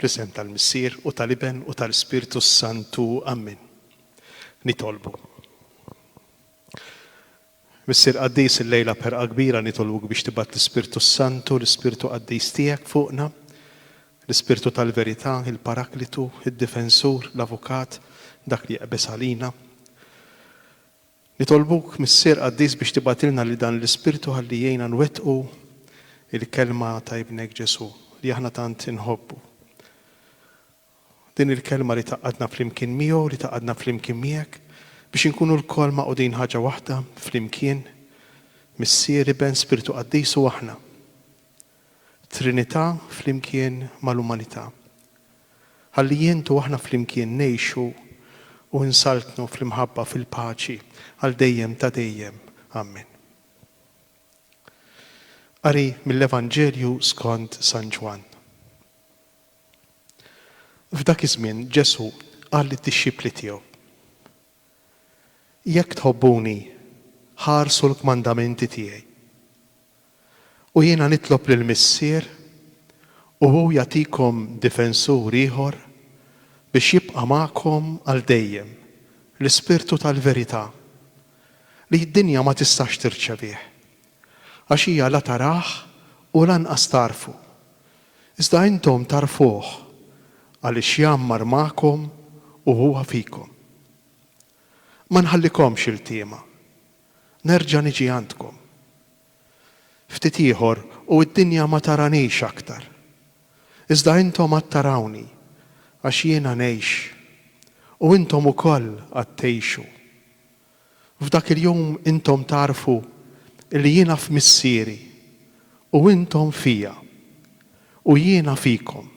Fl-isem tal-Missier u tal-Iben u tal-Ispirtu s-Santu. Ammen. Nitolbu. Missier Qaddis il-lejla perqa kbira nitolbuk biex tibgħat l-Ispirtu s-Santu, l-Ispirtu Qaddis tiegħek fuqna, l-Ispirtu tal-verità, il-Paraklitu, id-Difensur, l-Avukat, dak li jeqbeż għalina. Nitolbuk, Missier qaddis, biex tibgħatilna lil dan l-Ispirtu ħalli jgħinna nwettqu l-Kelma ta' Ibnek Ġesù, li aħna tant inħobbu. Din il-Kelma li tgħaqqadna flimkien miegħu, li tgħaqqadna flimkien miegħek, biex inkunu lkoll magħqudin ħaġa waħda, flimkien, Missier, Iben, Spirtu Qaddis u aħna. Trinità flimkien mal-umanità. Ħalli int u aħna flimkien ngħixu u nsaltnu fl-imħabba fil-paċi għal dejjem ta' dejjem. Ammen. Qari mill-Evanġelju skont San Ġwann. F'dak iż-żmien Ġesù qal lid-dixxipli tiegħu, Jekk tħobbuni, ħarsu l-kmandamenti tiegħi. U jiena nitlob lill-Missier, u hu jagħtikom Difensur ieħor biex jibqa' magħkom għal dejjem, l-Ispirtu tal-verità, li d-dinja ma tistax tirċevih, għax hija la tarah u lanqas tagħrfu. Iżda intom tagħrfuh, għaliex jgħammar magħkom u huwa fikom. Ma nħallikomx iltiema. Nerġa' niġi għandkom. Ftit ieħor u d-dinja ma taranix aktar. Iżda intom għad tarawni, għax jiena ngħix, u intom ukoll għad tgħixu. F'dak il-jum intom tagħrfu li jiena f'Missieri, u intom fija, u jiena fikom.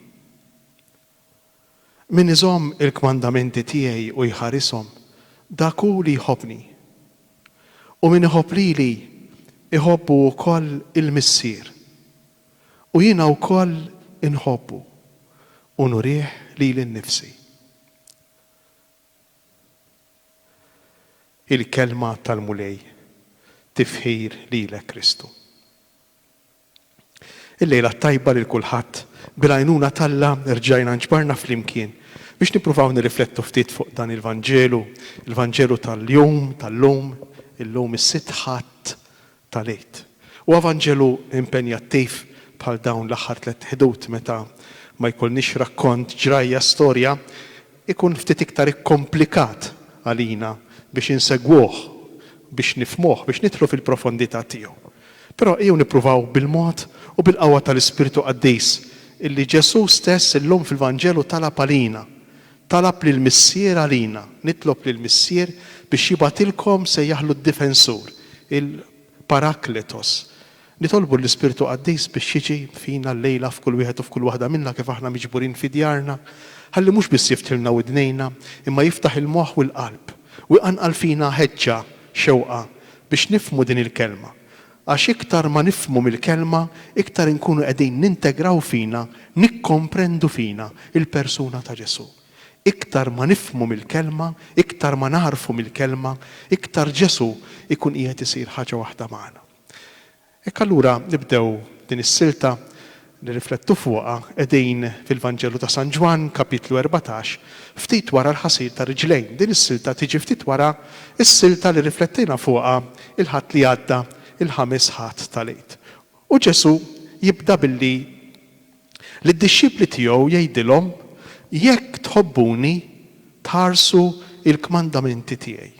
Min iżomm il-kmandamenti tiegħi u jħarishom, dak hu li jħobbni. U min iħobb lili, iħobbu wkoll il-Missier. U jiena wkoll inħobbu, u nurih lili nnifsi. Il-Kelma tal-Mulej, Tifħir lilek Kristu. Il-lejla t-tajba lil kulħadd. Bil-għajnuna t'Alla rġajna nġbarna flimkien biex nippruvaw nirriflettu ftit fuq dan il-Vanġelu, il-Vanġelu tal-jum, tal-lum, illum is-Sitt Ħadd tal-Għid. Huwa Vanġelu impenjattiv bħal dawn l-aħħar tlett Ħdud meta ma jkollniex rakkont, ġrajja, storja, ikun ftit iktar ikkomplikat għalina biex insegwuh, biex nifhmuh, biex nidħlu fil-profondità tiegħu. Però ejjew nippruvaw bil-mod u bil-qawwa tal-Ispirtu Qaddis illi Ġesù stess illum fil-Vanġelu talab għalina, talab lill-Missier għalina, nitlob lill-Missier biex jibgħatilkom sejjaħlu d-Difensur, il-Parakletos, Nitolbu lill-Ispirtu Qaddis biex jiġi fina llejla f'kull wieħed u f'kull waħda minna kif aħna miġburin fi djarna, ħalli mhux biss jiftħilna widnejna, imma jiftaħ il-moħħ u l-qalb, u jqanqal fina ħeġġa, xewqa, biex nifhmu din il-Kelma. Għax iktar ma nifhmu mill-Kelma, iktar inkunu qegħdin nintegraw fina, nikkomprendu fina, il-persuna ta' Ġesù. Iktar ma nifhmu mill-Kelma, iktar ma nagħrfu mill-Kelma, iktar Ġesù jkun qiegħed isir ħaġa waħda magħna. Hekk allura nibdew din is-silta nirriflettu fuqha qegħdin fil-Vanġelu ta' San Ġwann, Kapitlu erbatax, ftit wara l-ħasil tar-riġlejn. Din is-silta tiġi ftit wara s-silta li rriflettejna fuqha l-Ħadd li għadda, il-Ħamis Ħadd tal-Għid. U Ġesù jibda billi lid-dixxipli tiegħu jgħidilhom, Jekk tħobbuni, tħarsu l-kmandamenti tiegħi.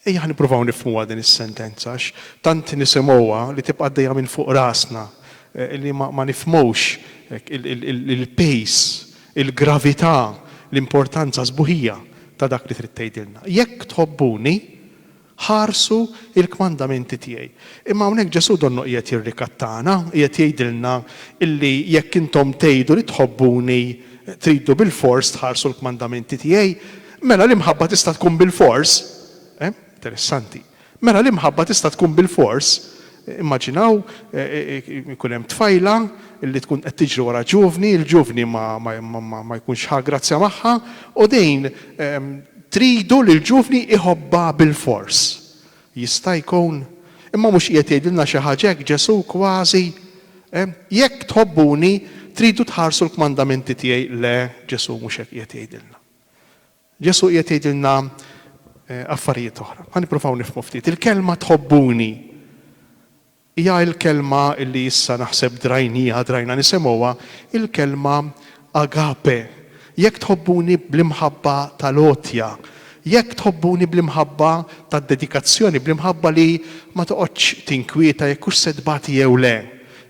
Ejja nippruvaw nifhmuha din is-sentenza għax tant nisimgħuha li tibqa' għaddejja minn fuq rasna li ma nifhmux il-pace, il-gravità, l-importanza sbuħija ta' dak li trid tgħidilna. Jekk tħobbuni, ħarsu l-kmandamenti tiegħi. Imma hawnhekk Ġesù donnu qiegħed jirrikattana, qiegħed jgħidilna li jekk intom tgħidu li tħobbuni tridu bilfors tħarsu l-kmandamenti tiegħi. Mela l-imħabba tista' tkun bilfors, eh? Interessanti. Mela l-imħabba tista' tkun bilfors, immaġinaw ikun hemm tfajla li tkun qed tiġri wara ġuvni, il-ġuvni ma, ma, ma, ma jkunx ħa grazzja magħha, u din tridu li l-ġuvni jħobbha bilfors. Jista' jkun? Imma mhux qiegħed jgħidilna xi ħaġa hekk Ġesù kważi? Eh? Jekk tħobbuni, tridu tħarsu l-kmandamenti tiegħi. Le, Ġesù mhux hekk qiegħed jgħidilna. Ġesù qiegħed jgħidilna affarijiet oħra. Ħa nippruvaw nifhmu ftit. Il-kelma tħobbuni hija l-kelma li issa naħseb drajnija, drajna nisimgħuha, il-kelma agape. Jekk tħobbuni bl-imħabba tal-għotja, jekk tħobbuni bl-imħabba tad-dedikazzjoni, bl-imħabba li ma toqgħodx tinkwieta jekk hux se tbati jew le,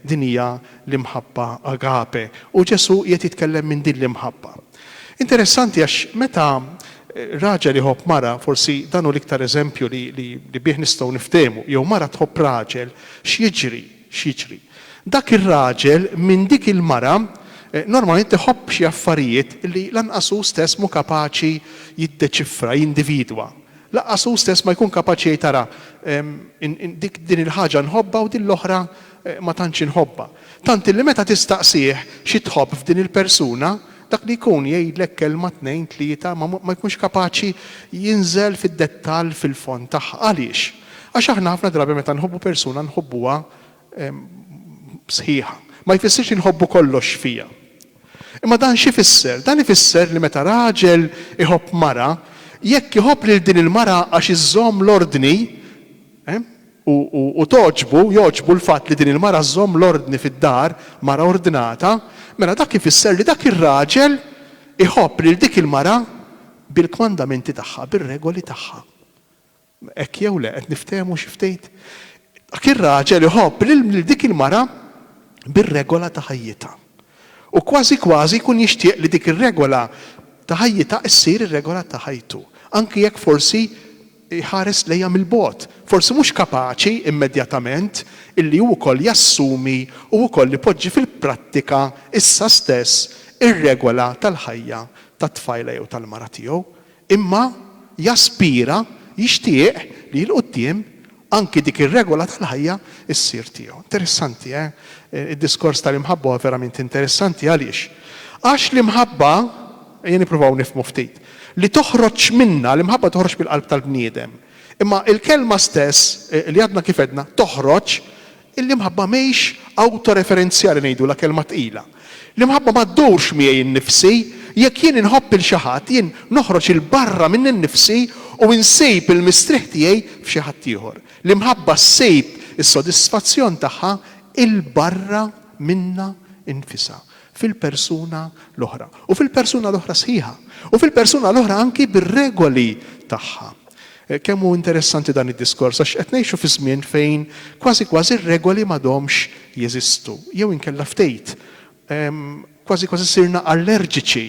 din hija l-imħabba agape. U Ġesù qiegħed jitkellem minn din l-imħabba. Interessanti għax meta raġel iħobb mara, forsi dan hu l-iktar eżempju li li li bih nistgħu niftehmu, jew mara tħobb raġel, x'jiġri? X'jiġri? Dak ir-raġel minn dik il-mara normalment iħobb xi affarijiet li lanqas hu stess mhu kapaċi jiddeċifra, jindividwa. Lanqas hu stess ma jkun kapaċi jgħid ara, ehm, dik din il-ħaġa nħobbha u din l-oħra ma tantx inħobbha. Tant illi meta tistaqsih xi tħobb f'din il-persuna, dak li jkun jgħidlek kelma tnejn tlieta ma ma jkunx kapaċi jinżel fid-dettall fil-fond tagħha. Għaliex? Għax aħna ħafna drabi meta nħobbu persuna nħobbuha sħiħa. Ma jfissirx li nħobbu kollox fiha. Imma dan x'ifisser? Dan ifisser li meta raġel iħobb mara, jekk iħobb lil din il-mara għax iżżomm l-ordni, u togħġbu, jogħġbu l-fatt li din il-mara żżomm l-ordni fid-dar, mara ordnata, mela dak ifisser li dak ir-raġel iħobb lil dik il-mara bil-kmandamenti tagħha, bir-regoli tagħha. Hekk jew le? Qed niftehmu xi ftit? Dak ir-raġel iħobb lil dik il-mara bir-regola ta' ħajjitha. U kważi kważi jkun jixtieq li dik ir-regola ta' ħajjitha ssir ir-regola ta' ħajtu, anki jekk forsi jħares lejha mill-bogħod, forsi mhux kapaċi immedjatament illi hu wkoll jassumi u wkoll ipoġġi fil-prattika issa stess ir-regola tal-ħajja tat-tfajla jew tal-mara tiegħu, imma jaspira, jixtieq li 'l quddiem anki dik ir-regola tal-ħajja ssir tiegħu. Interessanti, eh? Id-diskors tal-imħabba huwa verament interessanti. Għaliex? Għax l-imħabba, ejja nippruvaw nifhmu ftit, li toħroġ minnha, l-imħabba toħroġ mill-qalb tal-bniedem. Imma l-kelma stess, li għadna kif għedna, toħroġ, l-imħabba mhix awtoreferenzjali ngħidulha kelma tqila. L-imħabba ma ddurx miegħi nnifsi, jekk jien inħobb 'il xi ħadd, jien noħroġ 'il barra minni nnifsi u nsib il-mistrieħ tiegħi f'xi ħadd ieħor. L-imħabba ssib is-sodisfazzjon tagħha 'il barra minnha nnfisha. fil-persuna l-oħra, u fil-persuna l-oħra sħiħa, u fil-persuna l-oħra anki bir-regoli tagħha. Kemm hu interessanti dan id-diskors għax qed ngħixu fi żmien fejn kważi kważi r-regoli m'għadhomx jeżistu, jew inkella ftejt, kważi kważi sirna allerġiċi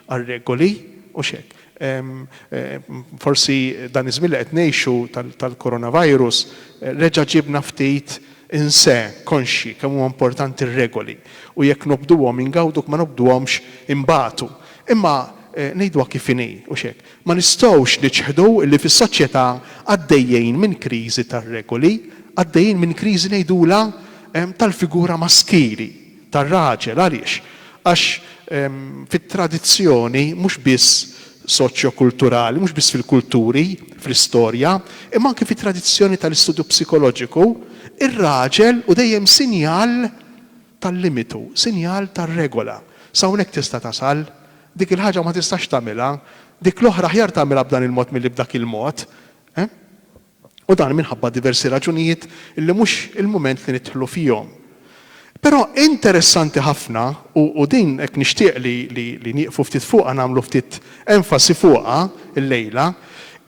għar-regoli, hux hekk? Forsi dan iż-żmien li qed ngħixu tal-coronavirus reġa' ġiebna ftit inse, konxji kemm huma importanti r-regoli u jekk nobduhom ingawdu jekk ma nobduhomx inbatu. Imma ngħiduha kif inhi, hux hekk? Ma nistgħux niċħdu li fis-soċjetà għaddejjin minn kriżi tar-regoli, għaddejjin minn kriżi ngħidulha tal-figura maskili. tar-raġel. Għaliex? Għax fit-tradizzjoni mhux biss soċjokulturali, mhux biss fil-kulturi, fl-istorja, imma anki fit-tradizzjoni tal-istudju psikoloġiku, ir-raġel hu dejjem sinjal tal-limitu, sinjal tar-regola. S'hawnhekk tista' tasal, dik il-ħaġa ma tistax tagħmilha, dik l-oħra aħjar tagħmilha b'dan il-mod milli b'dak il-mod. u dan minħabba diversi raġunijiet li mhux il-mument li nidħlu fihom. Però interessanti ħafna, u u din hekk nixtieq li li li nieqfu ftit fuqha nagħmlu ftit enfasi fuqha llejla,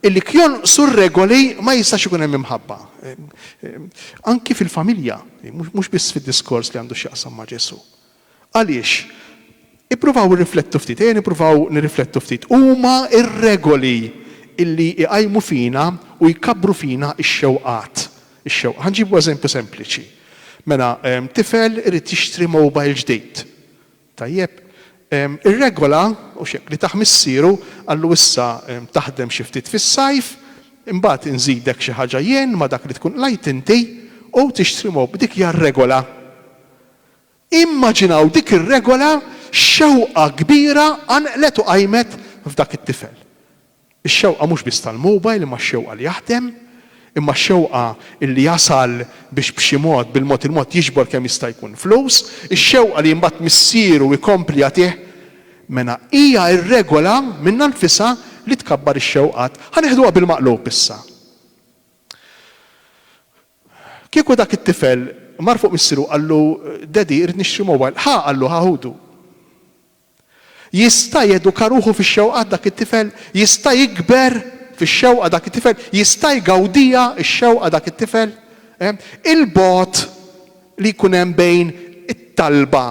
illi jekk jonqsu r-regoli ma jistax ikun hemm imħabba. Anki fil-familja, mhux biss fid-diskors li għandu x'jaqsam ma' Ġesù. Għaliex? Ippruvaw irriflettu ftit, ejja nippruvaw nirriflettu ftit. Huma r-regoli li jqajmu fina u jkabbru fina x-xewqat. Ix-xewqa. Ħa nġibu eżempju sempliċi. Mela, tifel irid jixtri mowbajl ġdid. Tajjeb. Ir-regola, hux hekk, li tah missieru, qallu issa taħdem xi ftit fis-sajf, imbagħad inżidek xi ħaġa jien ma' dak li tkun qlajt inti u tixtri mowb. Dik hija r-regola. Immaġinaw dik ir-regola x'xewqa kbira qanqlet u qajmet f'dak it-tifel. Ix-xewqa mhux biss tal-mobile imma x-xewqa li jaħdem, imma x-xewqa li jasal biex b'xi mod, bil-mod il-mod jiġbor kemm jista' jkun flus, ix-xewqa li mbagħad missieru jkompli jagħtih. Mela hija r-regola minnha nfisha li tkabbar ix-xewqat. Ħa neħduha bil-maqlub issa. Kieku dak it-tifel mar fuq missieru u qallu, Daddy, irrid nixtri mobile, ħa, qallu, ħa ħudu. Jista' jeduka ruħu fix-xewqat dak it-tifel? Jista' jikber fix-xewqa dak it-tifel? Jista' jgawdiha x-xewqa dak it-tifel? Il-bogħod li jkun hemm bejn it-talba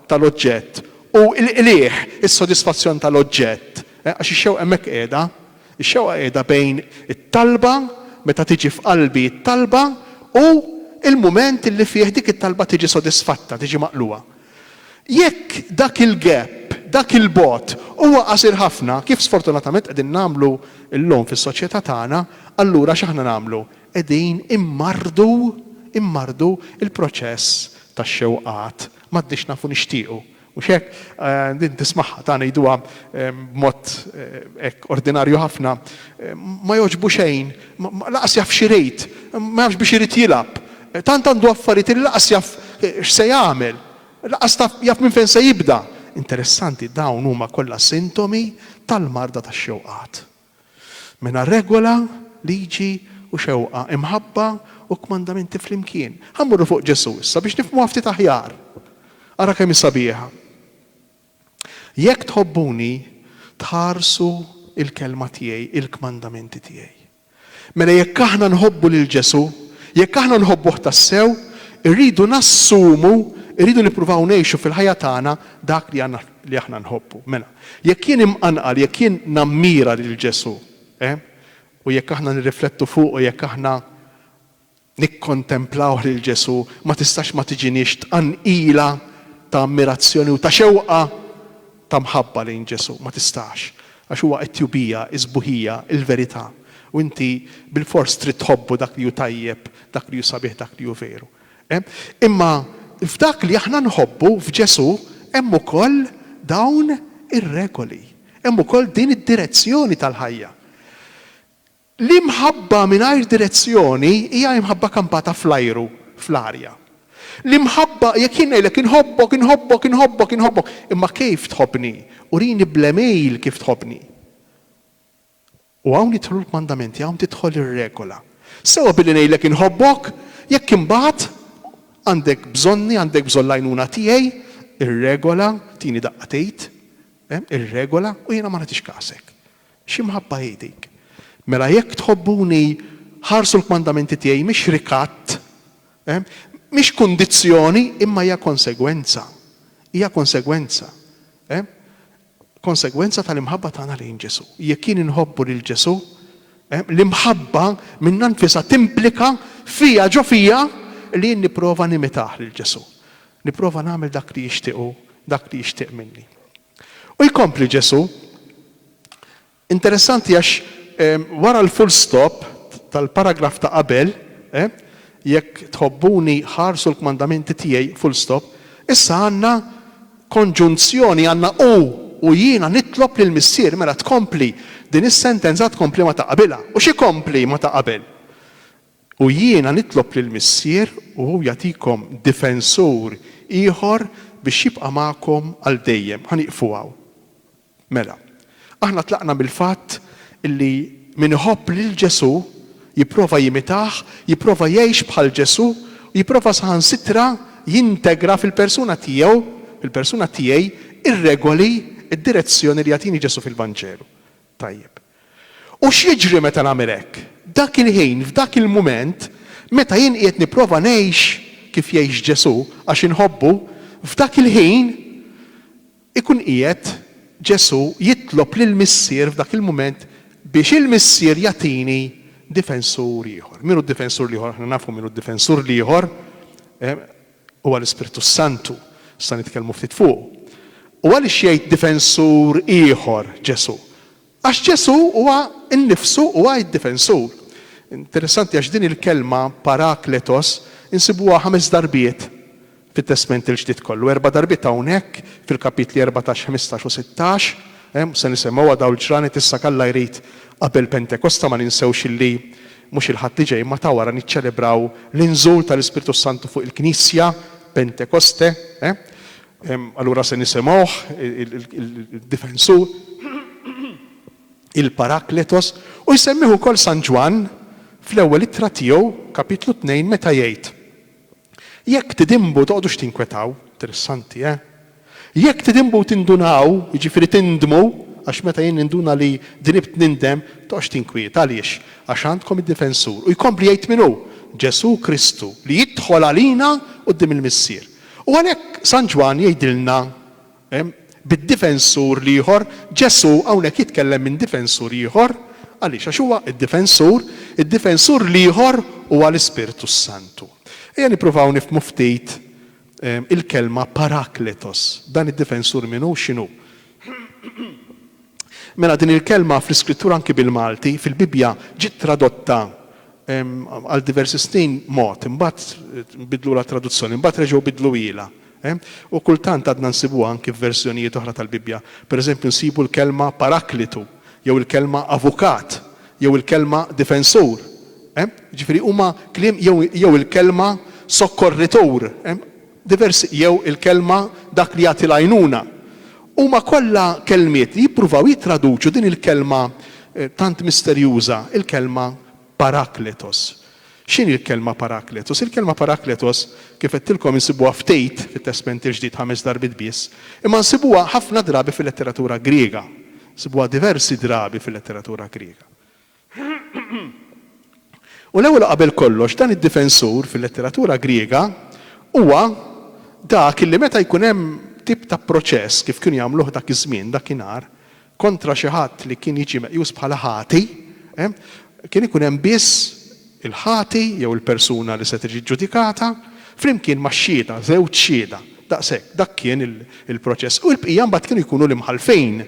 tal-oġġett u l-qligħ, is-sodisfazzjon tal-oġġett, għax ix-xewqa hemmhekk qiegħda, Ix-xewqa qiegħda bejn it-talba, meta tiġi f'qalbi t-talba, u l-mument li fih dik it-talba tiġi sodisfatta, tiġi maqlugħa. Jekk dak il-gap, dak il-bogħod, huwa qasir ħafna, kif sfortunatament qegħdin nagħmlu llum fis-soċjetà tagħna, allura x'aħna nagħmlu? Qegħdin immarrdu, immarrdu l-proċess tax-xewqat. M'għadniex nafu nixtiequ. Mhux hekk? Din tismagħha, ta' ngħiduha b'mod hekk ordinarju ħafna, ma jogħġbu xejn, lanqas jaf x'irid, ma jafx biex irid jilgħab, tant għandu affarijiet li lanqas jaf x'se jagħmel, lanqas taf jaf minn fejn se jibda. Interessanti, dawn huma kollha sintomi tal-marda tax-xewqat. Mingħajr regola, liġi u xewqa, imħabba u kmandamenti flimkien. Ħa mmorru fuq Ġesù issa biex nifhmuha ftit aħjar. Ara kemm hi sabiħa. Jekk tħobbuni, tħarsu l-kelma tiegħi, il-kmandamenti tiegħi. Mela jekk aħna nħobbu lil Ġesù, jekk aħna nħobbuh tassew, irridu nassumu, irridu nippruvaw ngħixu fil-ħajja tagħna dak li għandna li aħna nħobbu. Mela, jekk jien imqanqal, jekk jien nammira lil Ġesù, eh, u jekk aħna nirriflettu fuqu, jekk aħna nikkontemplawh lil Ġesù, ma tistax ma tiġiniex tqanqila ta' ammirazzjoni u ta' xewqa ta' mħabba lejn Ġesù. Ma tistax. Għax huwa it-tjubija, is-sbuħija, il-verità. U inti bilfors trid tħobbu dak li hu tajjeb, dak li hu sabiħ, dak li hu veru. Imma f'dak li aħna nħobbu f'Ġesù hemm ukoll dawn ir-regoli, hemm ukoll din id-direzzjoni tal-ħajja. L-imħabba mingħajr direzzjoni hija imħabba kampata fl-ajru, fl-arja. L-imħabba, jekk jien ngħidlek inħobbok, inħobbok, inħobbok, inħobbok, imma kejf tħobbni? Urini bl-għemil kif tħobbni. U hawn jidħlu l-kmandamenti, hawn tidħol ir-regola. Sewwa billi ngħidlek inħobbok, jekk imbagħad għandek bżonni, għandek bżonn l-għajnuna tiegħi, ir-regola, tini daqqa tgħid, hemm, ir-regola, u jiena ma nagħtix kasek. X'imħabba hi dik! Mela jekk tħobbuni, ħarsu l-kmandamenti tiegħi, mhix rikatt, hemm, mhix kundizzjoni, imma hija konsegwenza. Hija konsegwenza. Hemm? konsegwenza tal-imħabba tagħna lejn Ġesù. Jekk jien inħobbu lil Ġesù, l-imħabba minnha nfisha timplika fija, ġo fija, li jien nipprova nimitah lil Ġesù. Nipprova nagħmel dak li jixtieq hu, dak li jixtieq minni. U jkompli Ġesù, Interessanti għax wara l-full stop tal-paragraf ta' qabel, Jekk tħobbuni, ħarsu l-kmandamenti tiegħi, full stop, issa għandna konġunzjoni, għandna u, u jiena nitlob lill-Missier. Mela tkompli, din is-sentenza tkompli ma' ta' qabilha. U x'ikompli ma' ta' qabel? U jiena nitlob lill-Missier u hu jagħtikom difensur ieħor biex jibqa' magħkom għal dejjem. Ħa nieqfu hawn. Mela, aħna tlaqna mill-fatt li min iħobb lil Ġesù jipprova jimitah, jipprova jgħix bħal Ġesù, u jipprova saħansitra jintegra fil-persuna tiegħu, fil-persuna tiegħi, ir-regoli, id-direzzjoni li jagħtini Ġesù fil-Vanġelu. Tajjeb. U x'jiġri meta nagħmel hekk? Dak il-ħin, f'dak il-mument, meta jien qiegħed nipprova ngħix kif jgħix Ġesù, għax inħobbu, f'dak il-ħin Ikun qiegħed Ġesù jitlob lill-Missier f'dak il-mument biex il-Missier jagħtini difensur ieħor. Min hu d-difensur l-ieħor? Aħna nafu min hu d-difensur l-ieħor, huwa l-Ispirtu s-Santu. Issa nitkellmu ftit fuqu. U għaliex jgħid difensur ieħor Ġesù? Għax Ġesù huwa nnifsu huwa id-difensur. Interessanti għax din il-kelma parakletos insibuha ħames darbiet fit-Testment il-Ġdid kollu. Erba' darbiet hawnhekk fil-kapitli erbatax, ħmistax u sittax. Se nisemmgħuha dawn il-ġranet issa jekk Alla jrid qabel Pentekosta ma ninsewx illi mhux il-Ħadd li ġej imma ta' wara niċċelebraw l-inżul tal-Ispirtu s-Santu fuq il-Knisja, Pentekoste. Allura se nisimgħuh, il-Difensur, il-Parakletos, u jsemmih ukoll San Ġwann fl-Ewwel Ittra tiegħu, Kapitlu Tnejn, meta jgħid, Jekk tidinbu toqgħodux tinkwetaw, interessanti, eh? Jekk tidinbu u tindunaw, jiġifieri tindmu, għax meta jien ninduna li dnibt nindem, toqgħodx tinkwiet. Għaliex? Għax għandkom id-Difensur. U jkompli jgħid min hu? Ġesù Kristu, li jidħol għalina quddiem il-Missier. U għalhekk San Ġwann jgħidilna bid-difensur l-ieħor, Ġesù hawnhekk jitkellem minn difensur ieħor, għaliex? Għax huwa d-difensur, id-difensur l-ieħor huwa l-Ispirtu s-Santu. Ejja nippruvaw nifhmu ftit il-kelma parakletos, dan id-difensur min hu, x'inhu? Mela din il-kelma fl-Iskrittura anki bil-Malti, fil-Bibbja, ġiet tradotta għal diversi snin mod, imbagħad bidlulha t-traduzzjoni, imbagħad reġgħu bidluhielha. U kultant għadna nsibuha anki f'verżjonijiet oħra tal-Bibbja. Pereżempju nsibu l-kelma paraklitu, jew il-kelma avukat, jew il-kelma difensur. Jiġifieri huma kliem jew il-kelma sokkorritur. diversi jew il-kelma dak li jagħti l-għajnuna, huma kollha kelmiet li jippruvaw jittraduċu din il-kelma tant misterjuża, il-kelma parakletos. X'inhi l-kelma parakletos? Il-kelma parakletos, kif għedtilkom, insibuha ftit fit-Testment il-Ġdid, ħames darbiet biss, imma nsibuha ħafna drabi fil-letteratura Griega. Nsibuha diversi drabi fil-letteratura Griega. U l-ewwel u qabel kollox, dan id-difensur, fil-letteratura Griega, huwa dak li meta jkun hemm tip ta' proċess, kif kienu jagħmluh dak iż-żmien, dakinhar, kontra xi ħadd li kien jiġi meqjus bħala ħati, kien ikun hemm biss il-ħati jew il-persuna li se tiġi ġġudikata, flimkien max-xhieda, żewġ xhieda. Daqshekk, dak kien il-proċess. U l-bqija mbagħad kienu jkunu l-imħallfin.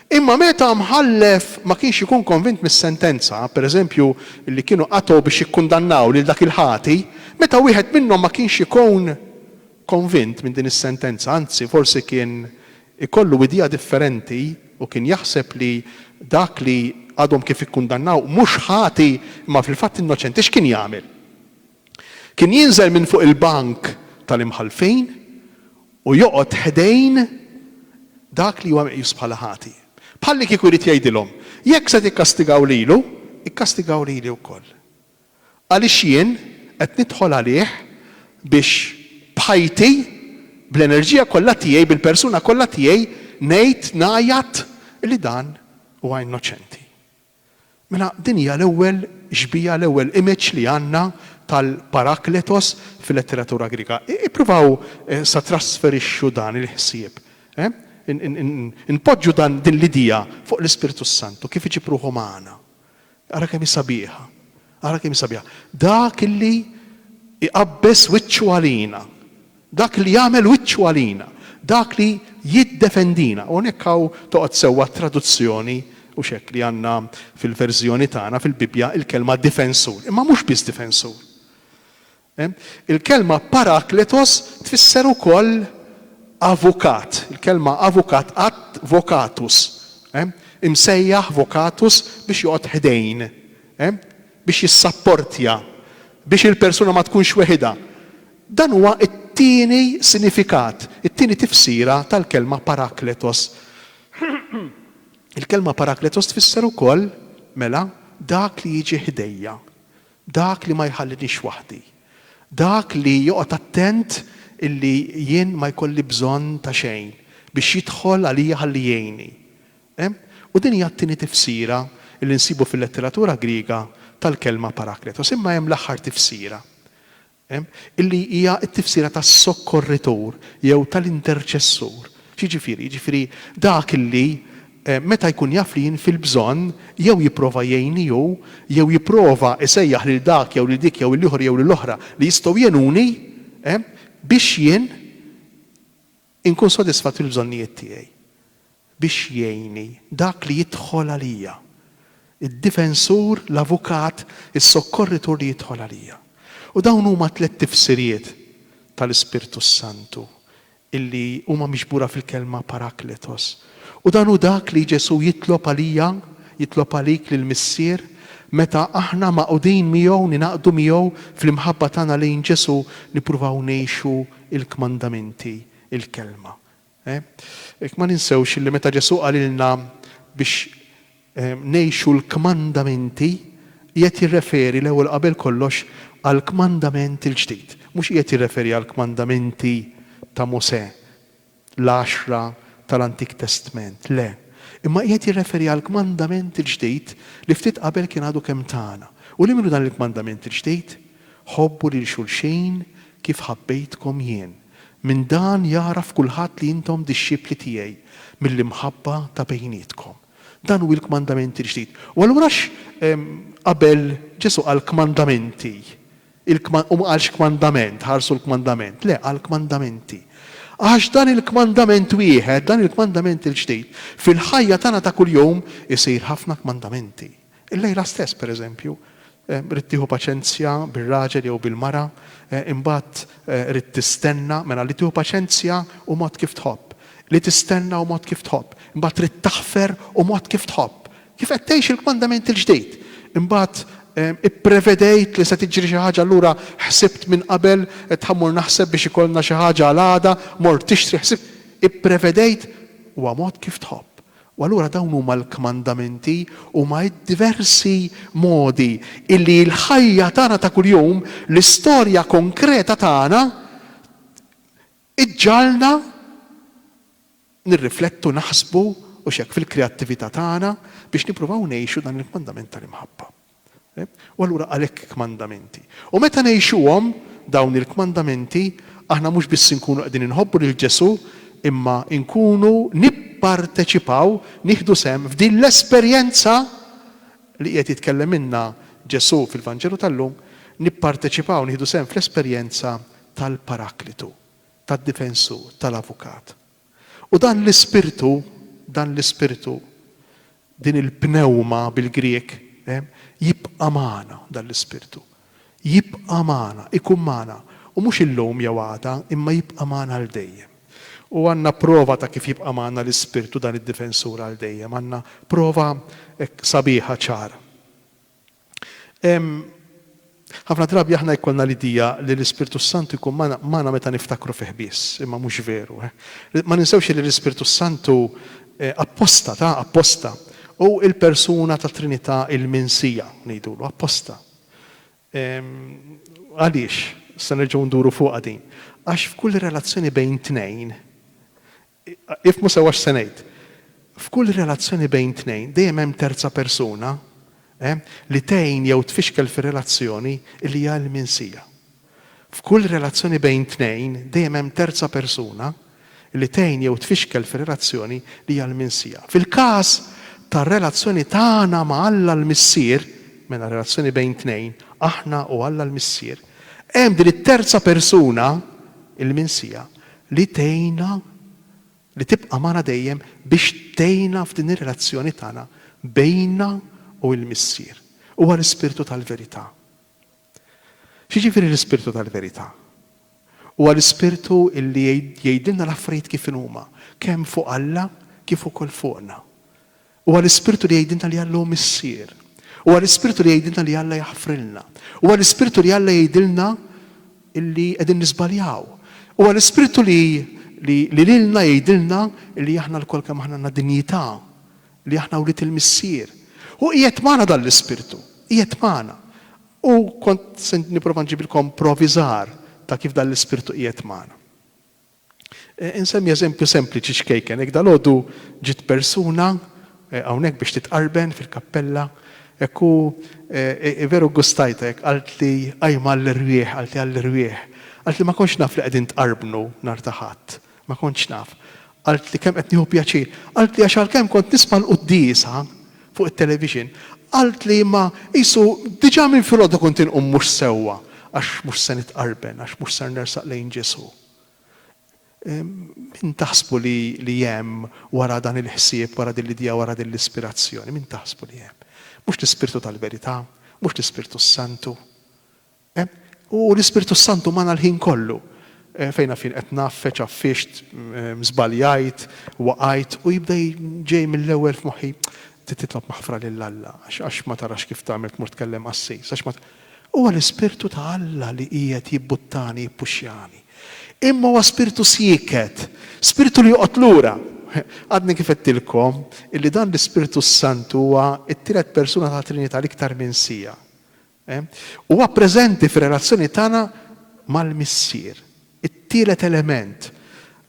Imma meta mħallef ma kienx ikun konvint mis-sentenza, pereżempju, li kienu qatgħu biex jikkundannaw lil dak il-ħati, meta wieħed minnhom ma kienx ikun konvint minn din is-sentenza, anzi forsi kien ikollu idea differenti u kien jaħseb li dak li għadhom kif ikkundannaw mhux ħati imma fil-fatt innoċenti, x'kien jagħmel? Kien jinżel minn fuq il-bank tal-imħallfin u joqgħod ħdejn dak li huwa meqjus bħala ħati. Bħallikieku jrid jgħidilhom, Jekk se tikkastigaw lilu, ikkastigaw lili wkoll. Għaliex jien qed nidħol għalih biex b'ħajti, bl-enerġija kollha tiegħi, bil-persuna kollha tiegħi ngħid, ngħajjat li dan huwa innoċenti. Mela din hija l-ewwel xbieha, l-ewwel image li għandna tal-Parakletos fil-letteratura Griega. Ippruvaw sa trasferixxu dan il-ħsieb. Inpoġġu dan din l-idea fuq l-Ispirtu s-Santu kif iġib ruħu magħna. Ara kemm hi sabiħa. Ara kemm hi sabiħa. Dak illi iqabbeż wiċċu għalina. Dak li jagħmel wiċċu għalina, dak li jiddefendina. U hawnhekk hawn toqgħod sewwa t-traduzzjoni, hux hekk li għandna fil-verżjoni tagħna fil-Bibbja l-kelma difensur. Imma mhux biss difensur. Il-kelma parakletos tfisser ukoll avukat. Il-kelma avukat ad vocatus. Imsejjaħ vocatus biex joqgħod ħdejn, biex jissapportja, biex il-persuna ma tkunx weħidha. Dan huwa t-tieni sinifikat, it-tieni tifsira tal-kelma parakletos. Il-kelma parakletos tfisser ukoll, mela, dak li jiġi ħdejja, dak li ma jħalliniex waħdi, dak li joqgħod attent illi jien ma jkolli bżonn ta' xejn biex jidħol għalija ħalli jgħinni. U din hija t-tieni tifsira illi nsibu fil-letteratura Griega tal-kelma parakletos. Imma hemm l-aħħar tifsira. illi hija t-tifsira ta' sokkorritur jew tal-interċessur. X'jiġifieri? Jiġifieri dak illi meta jkun jaf li jien fil-bżonn, jew jipprova jgħinni hu, jew jipprova jsejjaħ lil dak jew lil dik jew lill-ieħor jew lill-oħra li jistgħu jgħinuni biex jien Inkun sodisfatt fil-bżonnijiet tiegħi biex jgħinni dak li jidħol għalija, id-difensur, l-avukat, is-sokkorritur li jidħol għalija. U dawn huma tliet tifsiriet tal-Ispirtu s-Santu illi huma miġbura fil-kelma parakletos. U dan hu dak li Ġesù jitlob għalija, jitlob għalik lill-Missier, meta aħna magħqudin miegħu, ningħaqdu miegħu fl-imħabba tagħna lejn Ġesù, nippruvaw ngħixu il-kmandamenti, il-Kelma. Ehh? Ma ninsewx illi meta Ġesù qalilna biex ngħixu l-kmandamenti, qiegħed jirreferi l-ewwel qabel kollox għall-kmandament il-ġdid. Mhux qiegħed jirreferi għall-kmandamenti ta' Mosè. l-għaxra tal-Antik Testment, le, imma qiegħed jirreferi għall-kmandament il-ġdid li ftit qabel kien għadu kemm tana. U li minnu dan il-kmandament il-ġdid? Ħobbu lil xulxin kif ħabbejtkom jien. Minn dan jagħraf kulħadd li intom dixxipli tiegħi, mill-imħabba ta' bejnietkom. Dan hu l-kmandament il-ġdid. U allura għax qabel Ġesù qal kmandamenti? Il-kma-, u ma qalx kmandament, ħarsu l-kmandament, le, qal kmandamenti. Għax dan il-kmandament wieħed, dan il-kmandament il-ġdid, fil-ħajja tagħna ta' kuljum isir ħafna kmandamenti. Illejla stess, per eżempju, ridt tieħu paċenzja bir-raġel jew bil-mara, imbagħad ridt tistenna, mela li tieħu paċenzja hu mod kif tħobb, li tistenna hu mod kif tħobb, imbagħad ridt taħfer hu mod kif tħobb, Kif qed tgħix il-kmandament il-ġdid? Imbagħad ipprevedejt li se tiġri xi ħaġa allura ħsibt minn qabel, qed ħammur naħseb biex ikollna xi ħaġa għal għada, mort tixtri, ħsibt, ipprevedejt, huwa mod kif tħobb. U allura dawn huma l-kmandamenti, huma d-diversi modi illi l-ħajja tagħna ta' kuljum, l-istorja konkreta tagħna, Iġġagħalna nirriflettu, naħsbu, hux hekk, fil-kreattività tagħna biex nippruvaw ngħixu dan il-kmandament tal-imħabba. U allura għalhekk kmandamenti. U meta ngħixuhom, dawn il-kmandamenti, aħna mhux biss inkunu qegħdin inħobbu lil Ġesù, imma nkunu nipparteċipaw, nieħdu sehem f'din l-esperjenza li qiegħed jitkellem minnha Ġesù fil-Vanġelu tal-lum, nipparteċipaw, nieħdu sehem fl-esperjenza tal-Paraklitu, tad-Difensur, tal-Avukat. U dan l-Ispirtu, dan l-Ispirtu, din il-pnewma bil-Grieg, jibqa' magħna, dan l-Ispirtu. Jibqa' magħna, ikun magħna, u mhux illum jew għada, imma jibqa' magħna għal dejjem. U għandna prova ta' kif jibqa' magħna l-Ispirtu, dan id-Difensur, għal dejjem. Għandna prova hekk sabiħa, ċara. Ħafna drabi aħna jkollna l-idea li l-Ispirtu s-Santu jkun magħna meta niftakru fih biss, imma mhux veru. Ma ninsewx li l-Ispirtu s-Santu apposta ta, apposta, hu l-persuna tat-Trinità il-minsija, ngħidulu, apposta. Għaliex? Se nerġgħu nduru fuqha din. Għax f'kull relazzjoni bejn tnejn, Ifhmu sewwa x'se ngħid. F'kull relazzjoni bejn tnejn dejjem hemm terza persuna li tgħin jew tfixkel fir-relazzjoni li hija l-minsija. F'kull relazzjoni bejn tnejn dejjem hemm terza persuna li tgħin jew tfixkel fir-relazzjoni li hija l-minsija. Fil-każ tar-relazzjoni tagħna ma' Alla l-Missier, mela relazzjoni bejn tnejn, aħna u Alla l-Missier, hemm din it-terza persuna, il-minsija, li tgħinna, li tibqa' magħna dejjem biex tgħinna f'din ir-relazzjoni tagħna bejnna u l-Missier. Huwa l-Ispirtu tal-verità. X'jiġifieri l-Ispirtu tal-verità? Huwa l-Ispirtu li jgħidilna l-affarijiet kif inhuma, kemm fuq Alla kif ukoll fuqna. Huwa l-Ispirtu li jgħidilna li Alla hu Missier. Huwa l-Ispirtu li jgħidilna li Alla jaħfrilna. Huwa l-Ispirtu li Alla jgħidilna li qegħdin niżbaljaw. Huwa l-Ispirtu li li lilna jgħidilna li aħna lkoll kemm aħna għandna dinjità, li aħna wlied il-Missier. Hu qiegħed magħna dan l-Ispirtu. Qiegħed magħna. U kont se nipprova nġibilkom provi żgħar ta' kif dan l-Ispirtu qiegħed magħna. Insemmi eżempju sempliċi ċkejken, hekk dalgħodu ġiet persuna hawnhekk biex titqarben fil-kappella, hekk u veru ggustajtha hekk, qaltli qajma għall-irwieħ, qaltli għall-irwieħ. Qaltli ma kontx naf li qegħdin tqarbnu nhar ta' Ħadd, ma kontx naf. Qaltli kemm qed nieħu pjaċir. Qaltli għax għalkemm kont nisma' l-quddiesa fuq it-television, qaltli imma qisu diġà minn filgħodu kont inqum mhux sewwa għax mhux se nitqarben, għax mhux ser nersaq lejn Ġesù. Min taħsbu li hemm wara dan il-ħsieb, wara din l-idea, wara din l-ispirazzjoni? Min taħsbu li hemm? Mhux l-Ispirtu tal-verità? Mhux l-Ispirtu s-Santu? U l-Ispirtu s-Santu magħna l-ħin kollu. Fejn għafin qed ngħaffeġ, għaffixt, żbaljajt, waqajt u jibda ġej mill-ewwel f'moħħi, trid titlob maħfra lil Alla għax ma tarax kif tagħmel tmur tkellem qassis, għax ma Huwa l-Ispirtu ta' Alla li qiegħed jibbuttani, jippuxxjani. Imma huwa spirtu sieket, spirtu li joqgħod lura. Għadni kif għedtilkom illi dan l-Ispirtu s-Santu huwa t-tielet persuna tat-Trinità l-iktar minn siegħa. Huwa preżenti fir-relazzjoni tagħna mal-Missier. It-tielet element.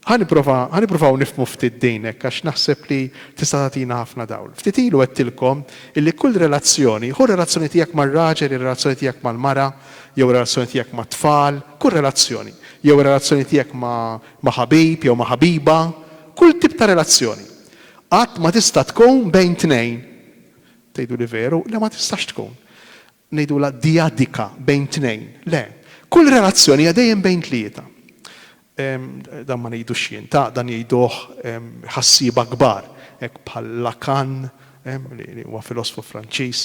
Ħa nipprova, ħa nippruvaw nifhmu ftit din hekk għax naħseb li tista' tagħtina ħafna dawl. Ftit ilu għedtilkom illi kull relazzjoni, ħu r-relazzjoni tiegħek mar-raġel, ir-relazzjoni tiegħek mal-mara, jew ir-relazzjoni tiegħek mat-tfal, kull relazzjoni, jew ir-relazzjoni tiegħek ma' ma' ħabib jew ma' ħabiba, kull tip ta' relazzjoni. Qatt ma tista' tkun bejn tnejn. Tgħiduli veru? Le ma tistax tkun. ngħidulha dyadika bejn tnejn. Le. Kull relazzjoni hija dejjem bejn tlieta. Dan ma ngħidux jien, ta, dan jgħiduh ħassieba kbar, hekk bħal Lacan, li huwa filosfu Franċiż,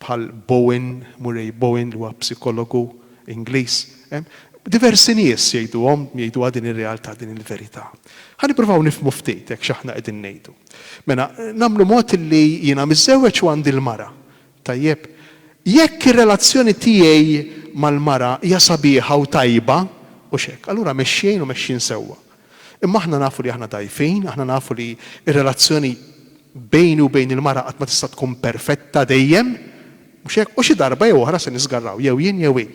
bħal Bowen, Murray Bowen, li huwa psikologu Ingliż. Diversi nies jgħiduhom, jgħiduha din ir-realtà, din il-verità. Ħa nippruvaw nifhmu ftit hekk x'aħna qegħdin ngħidu. Mela, nagħmlu mod illi jiena miżżewweġ u għandi l-mara. Tajjeb? Jekk ir-relazzjoni tiegħi mal-mara hija sabiħa u tajba, hux hekk, allura mexjejn u mexjin sewwa. Imma aħna nafu li aħna dgħajfin, aħna nafu li r-relazzjoni bejni u bejn il-mara qatt ma tista' tkun perfetta dejjem. Mhux hekk? U xi darba jew oħra se niżgarraw, jew jien jew hi.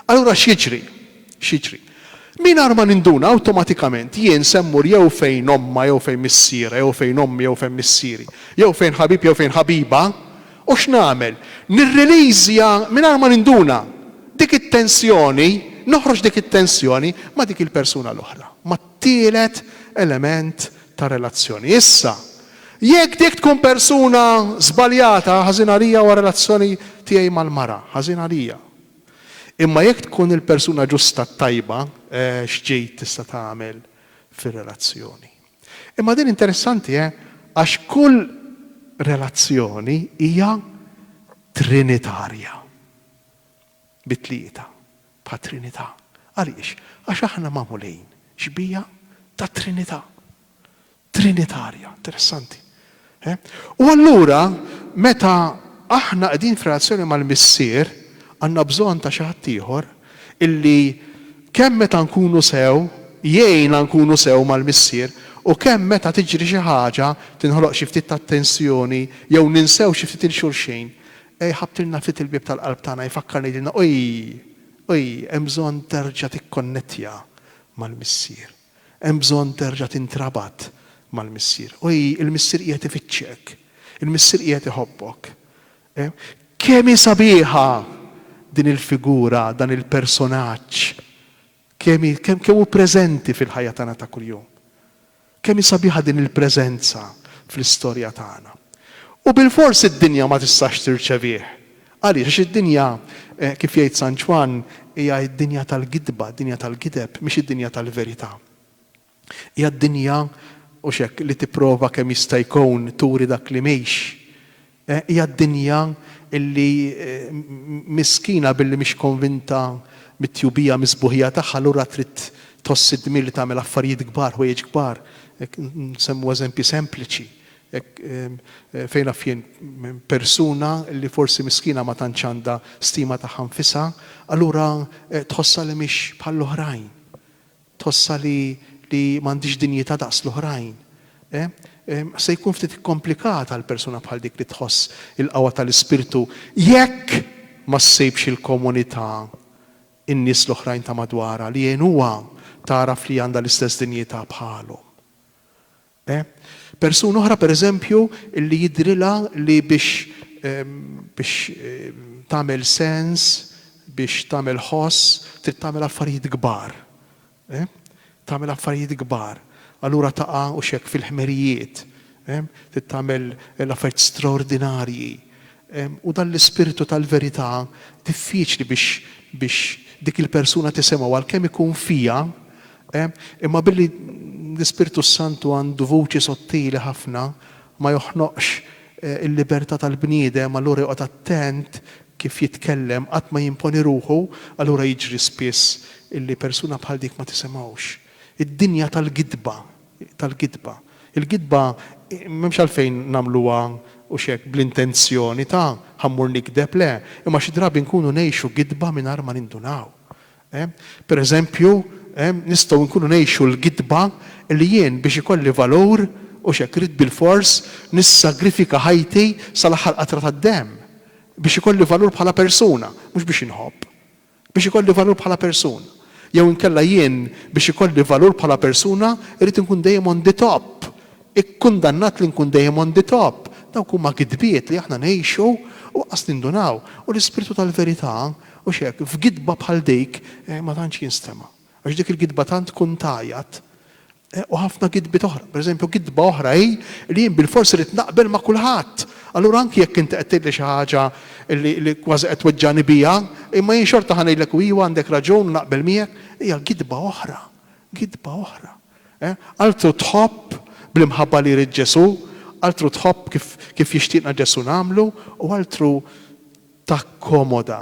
Allura x'jiġri? X'jiġri? Mingħajr ma ninduna, awtomatikament jien se mmur jew fejn ommha jew fejn missierha jew fejn ommi jew fejn missieri, jew fejn ħabib jew fejn ħabiba, u x'nagħmel? Nirriliżja mingħajr ma ninduna dik it-tensjoni, noħroġ dik it-tensjoni ma' dik il-persuna l-oħra, mat-tielet element ta' relazzjoni. Issa, jekk dik tkun persuna żbaljata, ħażin għalija huwa r-relazzjoni tiegħi mal-mara, ħażin għalija. Imma jekk tkun il-persuna ġusta t-tajba, eh, x'ġid tista' tagħmel fir-relazzjoni? Imma din interessanti, eh, għax kull relazzjoni hija trinitarja. bit-Tlieta, bħat-Trinità. Għaliex? Għax aħna magħmulin xbieha tat-Trinità. Trinitarja. Interessanti. Eh? U allura, meta aħna qegħdin f'relazzjoni mal-Missier, għandna bżonn ta' xi ħadd ieħor illi kemm meta nkunu sew, jgħinna nkunu sew mal-Missier, u kemm meta tiġri xi ħaġa, tinħoloq xi ftit ta' tensjoni, jew ninsew xi ftit 'il xulxin, Ejja jħabtilna ftit il-bieb tal-qalb tagħna jfakkarna jgħidilna ojj, ojj, hemm bżonn terġa' tikkonnettja mal-Missier. Hemm bżonn terġa' tintrabat mal-Missier. Ojj, il-Missier qiegħed ifittxek. Il-Missier qiegħed iħobbok. Kemm hi sabiħa din il-figura, dan il-personaġġ Kemm hi, kemm, kemm hu preżenti fil-ħajja tagħna ta' kuljum. Kemm hi sabiħa din il-preżenza fl-istorja tagħna. U bilfors id-dinja ma tistax tirċevih. Għaliex? Għax id-dinja, kif jgħid San Ġwann, hija d-dinja tal-gidba, d-dinja tal-gideb, mhix id-dinja tal-verità. Hija d-dinja, hux hekk, li tipprova kemm jista' jkun turi dak li mhix. Eh, hija d-dinja illi, miskina billi mhix konvinta mit-tjubija mis-sbuħija tagħha allura trid tħoss id-dmir li tagħmel affarijiet kbar, ħwejjeġ kbar. Hekk, nsemmu eżempji sempliċi. Hekk, fejn naf jien, persuna li forsi miskina ma tantx għandha stima tagħha nfisha, allura tħossha li mhix bħall-oħrajn. Tħossha li li m'għandhiex dinjità daqs l-oħrajn? Se jkun ftit ikkomplikat għal persuna bħal dik li tħoss il-qawwa tal-Ispirtu jekk ma ssibx il-komunità, in-nies l-oħrajn ta' madwarha, li jgħinuha tagħraf li għandha l-istess dinjità bħalhom. E. Persuna oħra, per eżempju, li jidhrilha li biex biex tagħmel sens, biex tagħmel ħoss, trid tagħmel affarijiet kbar. E. Tagħmel affarijiet kbar. Allura taqa' hux hekk fil-ħmerijiet. E. Trid tagħmel l-affarijiet straordinarji. E. U dan l-ispirtu tal-verità diffiċli biex biex dik il-persuna tisimgħu għalkemm ikun fiha E. Imma billi l-Ispirtu s-Santu għandu vuċi sottili ħafna, ma joħnoqx il-libertà tal-bniedem, allura joqgħod attent kif jitkellem, qatt ma jimponi ruħu, allura jiġri spiss illi persuna bħal dik ma tisimgħux. Id-dinja tal-gidba, tal-gidba. Il-gidba m'hemmx għalfejn nagħmluha, hux hekk, bl-intenzjoni ta' ħa mmur nigdeb, le, imma xi drabi nkunu ngħixu gidba mingħajr ma nindunaw. Per eżempju, nistgħu nkunu ngħixu l-gidba li jien biex ikolli valur hux hekk irrid bilfors nissagrifika ħajti sal-aħħar qatra tad-demm biex ikolli valur bħala persuna, mhux biex inħobb. Biex ikolli valur bħala persuna. Jew inkella jien biex ikolli valur bħala persuna irrid inkun dejjem on the top, ikkundannat li nkun dejjem on the top. Dawk huma gidbiet li aħna ngħixu u qas nindunaw. U l-Ispirtu tal-verità U x'hekk, f'gidba bħal dik, ma tantx jinstema'. Għax dik il-gidba tant tkun tgħajjat. U ħafna gidbiet oħra. Per eżempju, gidba oħra hi li jien bilfors irrid naqbel ma' kulħadd. Allura anki jekk inti qed tgħidli xi ħaġa li kważi qed tweġġagħni biha, imma jien xorta ħa ngħidlek u iva għandek raġun u naqbel miegħek, hija gidba oħra. Gidba oħra. Altru tħobb bl-imħabba li jrid Ġesù, altru tħobb kif jixtieqna Ġesù nagħmlu, u altru takkomoda,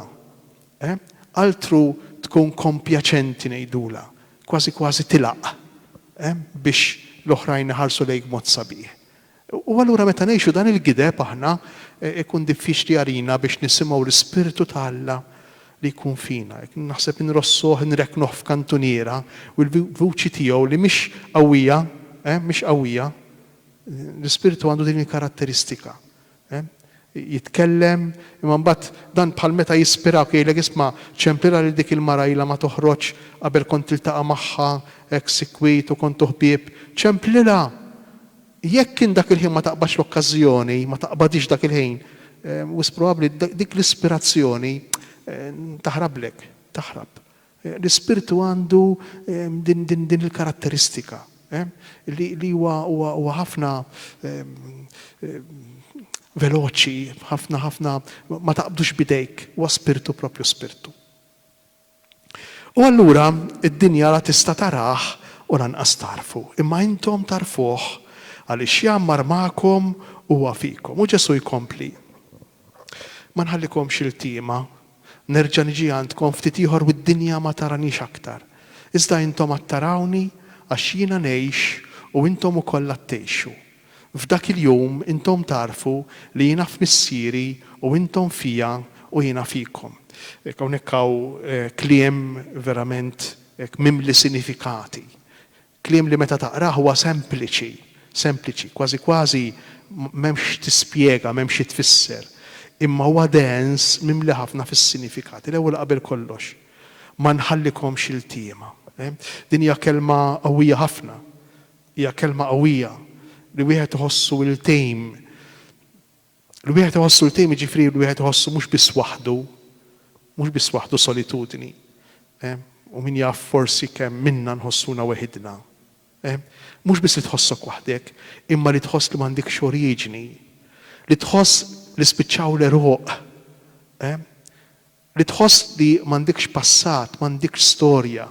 eh? Altru tkun kompjaċenti ngħidulha, kważi kważi tilgħaq, eh? biex l-oħrajn iħarsu lejk b'mod sabiħ. U allura meta ngħixu dan il-gideb aħna, ikun diffiċli għalina biex nisimgħu l-Ispirtu ta' Alla li jkun fina. Naħseb inrossuh, inrekknuh f'kantuniera u l-vuċi tiegħu li mhix qawwija, eh? mhix qawwija. L-Ispirtu għandu din il-karatteristika. jitkellem, imma mbagħad dan bħal meta jispirawk jgħidlek isma' ċemplilha lil dik il-mara ilha ma toħroġ qabel kont tiltaqa' magħha hekk sikwit u kontu ħbieb, ċemplilha! Jekk int dak il-ħin ma taqbadx l-okkażjoni, ma taqbadhiex dak il-ħin, wisq probabbli dik l-ispirazzjoni taħrablek, taħrab. L-Ispirtu għandu din il-karatteristika, li huwa ħafna veloċi, ħafna ħafna ma taqbdux b'idejk, huwa Spirtu proprju Spirtu. U allura d-dinja la tista' tarah u lanqas tagħrfu, imma intom tagħrfuh, għaliex jgħammar magħkom u huwa fikom. U Ġesù jkompli. Ma nħallikomx iltiema. Nerġa' niġi għandkom ftit ieħor u d-dinja ma taranix aktar. Iżda intom għad tarawni, għax jiena ngħix u intom ukoll għad tgħixu. F'dak il-jum intom tagħrfu li jiena f'Missieri u intom fija u jiena fikom. Hekk hawnhekk hawn kliem verament hekk mimli sinifikati. Kliem li meta taqrah huwa sempliċi, sempliċi, kważi kważi m'hemmx x'tispjega, m'hemm xi tfisser. Imma huwa dens, mimli ħafna fis-sinifikati. L-ewwel qabel kollox, ma nħallikomx iltiema. Din hija kelma qawwija ħafna. Hija kelma qawwija li wieħed iħossu iltejm. Li wieħed iħossu l-tim jiġifieri li wieħed iħossu mhux biss waħdu, mhux biss waħdu solitudni. U min jaf forsi kemm minna nħossuna weħidna. Mhux biss li tħossok waħdek, imma li tħoss li m'għandikx oriġini. Li tħoss li spiċċaw l-għeruq. Li tħoss li m'għandikx passat, m'għandikx storja.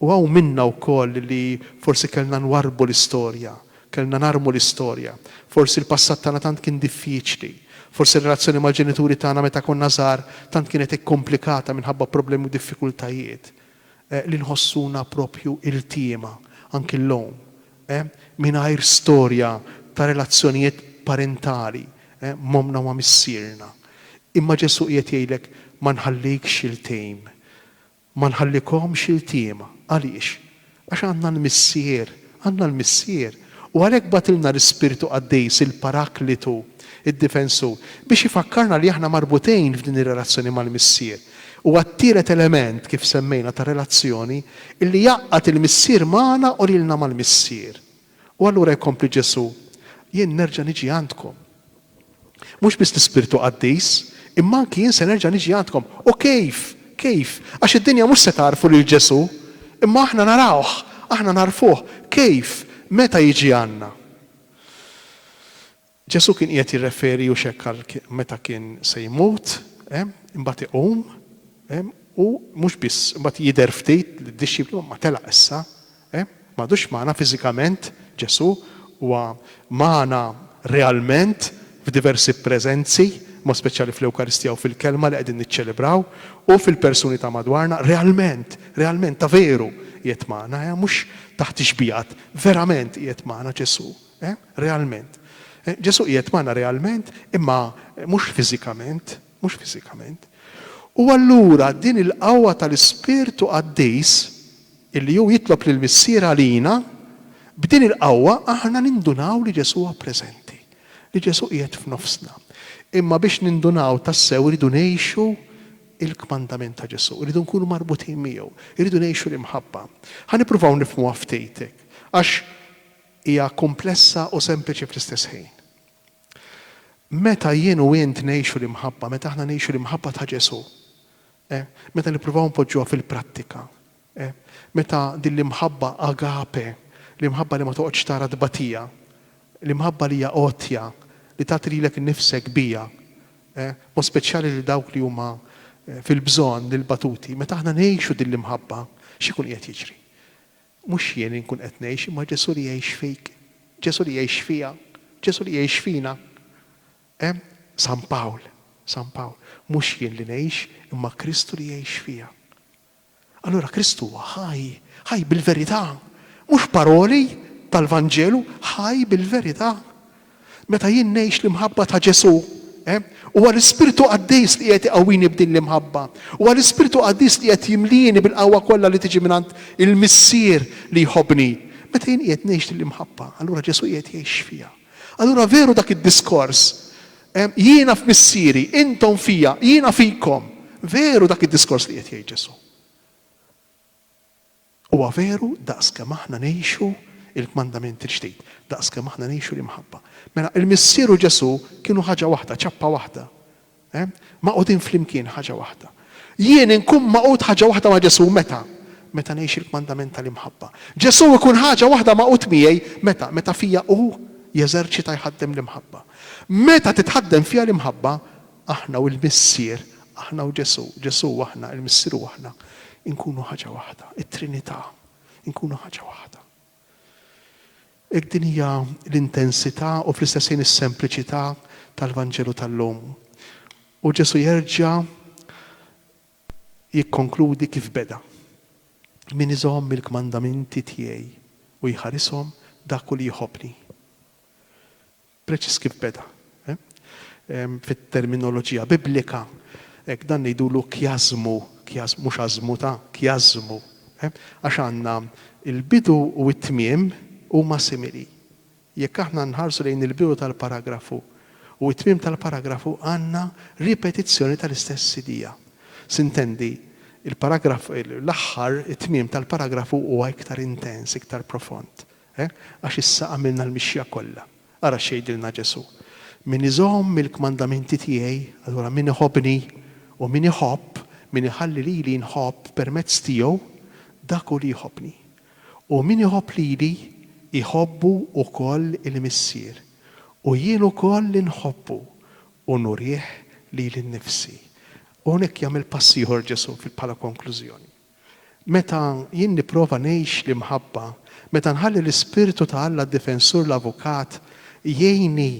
U hawn minna wkoll li forsi kellna nwarrbu l-istorja, kellna narmu l-istorja. Forsi l-passat tagħna tant kien diffiċli. Forsi r-relazzjoni mal-ġenituri tagħna meta konna żgħar tant kienet ikkomplikata minħabba problemi u diffikultajiet. li nħossuna proprju iltiema, anki llum, mingħajr storja ta' relazzjonijiet parentali m'ommna u ma' missierna. Imma Ġesù qiegħed jgħidlek, Ma nħallikx iltim. Ma nħallikomx iltiema. Għaliex? Għax għandna l-Missier Għandna l-Missier, u għalhekk bagħtilna l-Ispirtu Qaddis, il-Paraklitu, id-Difensur, biex ifakkarna li aħna marbutejn f'din ir-relazzjoni mal-Missier. Huwa t-tielet element, kif semmejna, ta' relazzjoni, illi jgħaqqad il-Missier magħna u lilna mal-Missier. U allura jkompli Ġesù, Jien nerġa' niġi għandkom. Mhux biss l-Ispirtu Qaddis, imma anki jien se nerġa' niġi għandkom. U kif? Kif? Għax id-dinja mhux se tagħrfu lil Ġesù, imma aħna narawh, aħna nagħrfuh. Kif? Meta jiġi għandna. Ġesù kien qiegħed jirreferi hux hekk għal meta kien se jmut, imbagħad iqum, u mhux biss, imbagħad jidher ftit lid-dixxipli, imma telaq issa, Eh? M'għadux magħna fiżikament Ġesù, huwa magħna realment f'diversi preżenzi, b'mod speċjali fl-Ewkaristija u fil-Kelma li qegħdin niċċelebraw, u fil-persuni ta' madwarna, realment, realment, ta' veru qiegħed magħna, eh? mhux taħt ix-xbigħat, verament qiegħed magħna Ġesù, eh? realment. Ġesù qiegħed magħna realment, imma mhux fiżikament. mhux fiżikament, u allura din il-qawwa tal-Ispirtu Qaddis, illi hu jitlob lill-Missier għalina, b'din il-qawwa aħna nindunaw li Ġesù huwa preżenti, li Ġesù qiegħed f'nofsna. Imma biex nindunaw tassew irridu ngħixu l-kmandament ta' Ġesù, irridu nkunu marbutin miegħu, irridu ngħixu l-imħabba. Ħa nippruvaw nifhmuha ftit, għax hija kumplessa u sempliċi fl-istess ħin. Meta jien u int ngħixu l-imħabba, meta aħna ngħixu l-imħabba ta' Ġesù, eh, meta nippruvaw npoġġuha fil-prattika, eh, meta din l-imħabba agape, l-imħabba li ma toqgħodx tara tbatija, l-imħabba li hija għotja, li tagħti lilek innifsek biha, eh, mod speċjali lil dawk li huma eh, fil-bżonn, lill-batuti, meta aħna ngħixu din l-imħabba, x'ikun qiegħed jiġri? Mhux jien li nkun qed ngħix imma Ġesù li jgħix fik, Ġesù li jgħix fija, Ġesù li jgħix fina. Hemm San Pawl, San Pawl, mhux jien li ngħix imma Kristu li jgħix fija. Allura Kristu huwa ħaj, ħaj bil-verità, mhux paroli tal-Vanġelu, ħaj bil-verità. Meta jien ngħix l-imħabba ta' Ġesù, eh, huwa l-Ispirtu Qaddis li qiegħed iqawwini b'din l-imħabba. Huwa l-Ispirtu Qaddis li qiegħed jimlieni bil-qawwa kollha li tiġi mingħand il-Missier li jħobbni. Meta jien qiegħed ngħix din l-imħabba, allura Ġesù qiegħed jgħix fija. Allura veru dak id-diskors, eh, jiena f'Missieri, intom fija, jiena fikom. Veru dak id-diskors li qiegħed jgħid Ġesù. Huwa veru, daqs kemm aħna ngħixu l-kmandament il-ġdid, daqs kemm aħna ngħixu l-imħabba. Mela, il-Missier u Ġesù kienu ħaġa waħda, ċappa waħda. Hemm? Magħqudin flimkien, ħaġa waħda. Jien inkun magħqud ħaġa waħda ma' Ġesù, meta? Meta ngħix il-kmandament tal-imħabba. Ġesù ikun ħaġa waħda magħqud miegħi, meta? Meta fija hu jeżerċita, jħaddem l-imħabba. Meta titħaddem fija l-imħabba, Aħna u l-Missier, aħna u Ġesù, Ġesù u aħna, il-Missier u aħna, inkunu ħaġa waħda, it-Trinità, inkunu ħaġa waħda. Hekk din hija l-intensità u fl-istess ħin is-sempliċità tal-Vanġelu tal-lum. U Ġesù jerġa' jikkonkludi kif beda. Min iżomm il-kmandamenti tiegħi u jħarishom dak hu li jħobbni. Preċiż kif beda. Fit-terminoloġija Biblika, hekk, dan ngħidulu kjażmu, kjażmu, mhux għażmu ta', kjażmu. Għax għandna l-bidu u t-tmiem huma simili. Jekk aħna nħarsu lejn il-bidu tal-paragrafu u t-tmiem tal-paragrafu għandna ripetizzjoni tal-istess idea. Sintendi, il-paragraf, l-aħħar, it-tmiem tal-paragrafu huwa iktar intens, iktar profond. Hekk, għax issa għamilna l-mixja kollha. Ara x'jgħidilna Ġesù, Min iżomm il-kmandamenti tiegħi, allura min iħobbni, u min iħobb, min iħalli lili jinħobb permezz tiegħu, dak hu li jħobbni. U min iħobb lili, iħobbu wkoll il-Missier. U jien ukoll inħobbu, u nurih lili nnifsi. U hawnhekk jagħmel pass ieħor Ġesù bħala konklużjoni. Meta jien nipprova ngħix l-imħabba, meta nħalli l-Ispirtu ta' Alla d-Difensur l-Avukat jgħinni,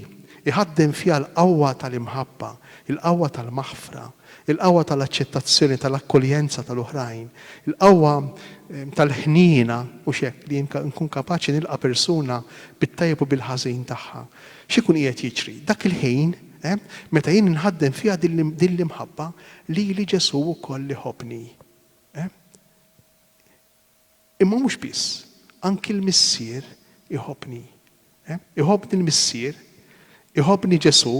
iħaddem fija l-qawwa tal-imħabba, il-qawwa tal-maħfra, il-qawwa tal-aċċettazzjoni, tal-akkoljenza tal-oħrajn, il-qawwa tal-ħniena, mhux hekk, li jien nkun kapaċi nilqa' persuna bit-tajjeb u bil-ħażin tagħha. X'ikun qiegħed jiġri? Dak il-ħin, meta jien inħaddem fija din l-imħabba, Lili Ġesù wkoll iħobbni. Eh? Imma mhux biss, anki l-Missier iħobbni. Eh? Iħobbni l-Missier, iħobbni Ġesù,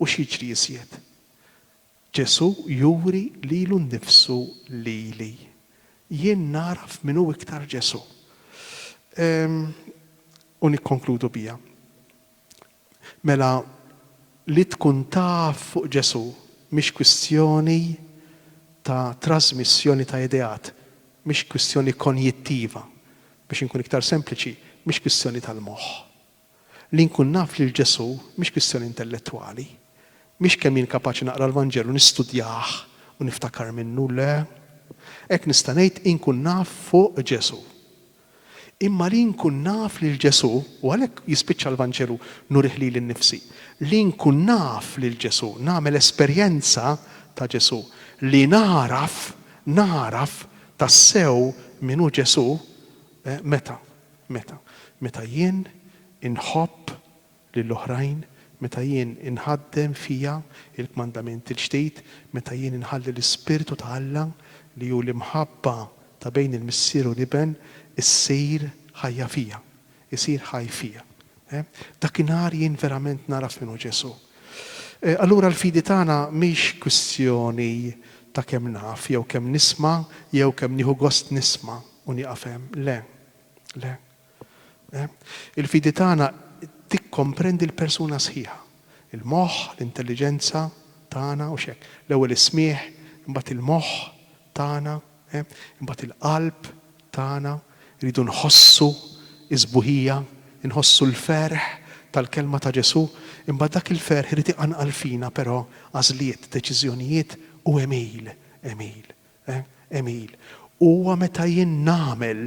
u x'jiġri iżjed? Ġesù juri lilu nnifsu lili. Jien nagħraf min hu iktar Ġesù. Ehm, u nikkonkludu biha. Mela, li tkun taf fuq Ġesù mhix kwistjoni ta' trażmissjoni ta' ideat, mhix kwistjoni konjittiva, biex inkun iktar sempliċi, mhix kwistjoni tal-moħħ. Li nkun naf lil Ġesù mhix kwistjoni intellettwali. Mhix kemm jien kapaċi naqra l-Vanġelu, nistudjah u niftakar minnu, le. Hekk nista' ngħid inkun naf fuq Ġesù. Imma li nkun naf lil Ġesù, u għalhekk jispiċċa l-Vanġelu, nurih lili nnifsi. Li nkun naf lil Ġesù, nagħmel esperjenza ta' Ġesù. Li nagħraf, nagħraf tassew min hu Ġesù, meta? Meta? Meta jien inħobb lil oħrajn, meta jien inħaddem fija l-kmandamenti l-ġdid, meta jien inħalli l-Ispirtu ta' Alla, li hu l-imħabba ta' bejn il-Missier u l-Iben, issir ħajja fija, isir ħaj fija. Dakinhar jien verament nagħraf min hu Ġesù. Allura l-fidi tagħna mhix kwistjoni ta' kemm naf, jew kemm nisma', jew kemm nieħu gost nisma' u nieqaf hemm. Le. Le. Il-fidi tagħna tikkomprendi l-persuna sħiħa, il-moħħ, l-intelliġenza tagħna, hux hekk? L-ewwel is-smigħ, imbagħad il-moħħ tagħna, imbagħad il-qalb tagħna, irridu nħossu s-sbuħija, inħossu l-ferħ tal-kelma ta' Ġesù, imbagħad dak il-ferħ irid iqanqal fina però għażliet, deċiżjonijiet u għemil, għemil. Eh, Emil, huwa meta jien nagħmel,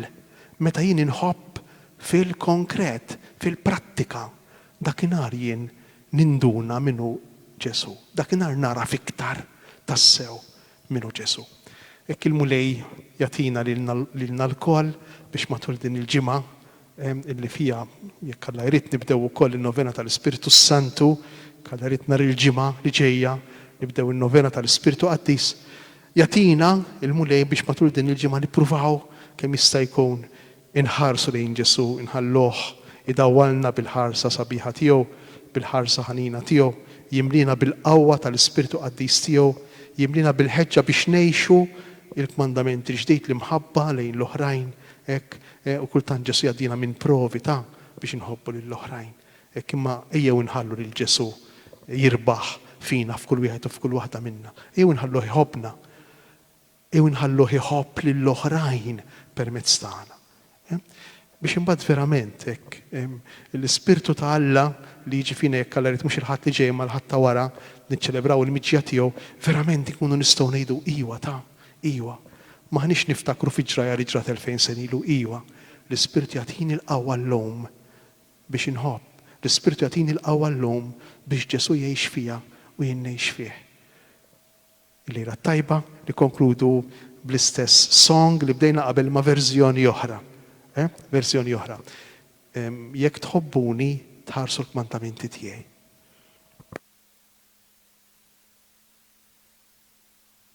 meta jien inħobb fil-konkret, fil-prattika, dakinhar jien ninduna min hu Ġesù. Dakinhar nagħraf iktar tassew min hu Ġesù. Hekk il-Mulej jagħtina lilna lkoll biex matul din il-ġimgħa illi fiha, jekk Alla jrid, nibdew ukoll in-Novena tal-Ispirtu s-Santu, jekk Alla jrid nhar il-Ġimgħa li ġejja nibdew in-Novena tal-Ispirtu Qaddis, jagħtina l-Mulej biex matul din il-ġimgħa nippruvaw kemm jista' jkun inħarsu lejn Ġesù, inħalluh idawwalna bil-ħarsa sabiħa tiegħu, bil-ħarsa ħanina tiegħu, jimliena bil-qawwa tal-Ispirtu Qaddis tiegħu, jimliena bil-ħeġġa biex ngħixu l-kmandament il-ġdid, l-imħabba lejn l-oħrajn, hekk U kultant Ġesù jgħaddina minn provi ta' biex inħobbu lill-oħrajn. Hekk imma ejjew inħallu lil Ġesù jirbaħ fina f'kull wieħed u f'kull waħda minna. Ejjew inħalluh iħobbna. Ejjew inħalluh iħobb lill-oħrajn permezz tagħna. Biex imbagħad verament hekk l-Ispirtu ta' Alla li jiġi fina jekk Alla jrid mhux il-Ħadd li ġej imma l-Ħadd ta' wara niċċelebraw il-miġja tiegħu, verament inkunu nistgħu ngħidu, Iwa ta', Iwa, m'aħniex niftakru fiġraja li ġrat elfejn sena ilu, iwa, l-Ispirtu jagħtini l-qawwa llum biex inħobb, l-Ispirtu jagħtini l-qawwa llum biex Ġesù jgħix fija u jien ngħix fih. Il-lejla t-tajba nikkonkludu bl-istess song li bdejna qabel imma verżjoni oħra. Eh? Verżjoni oħra. Jekk tħobbuni, tħarsu l-kmantamenti tiegħi.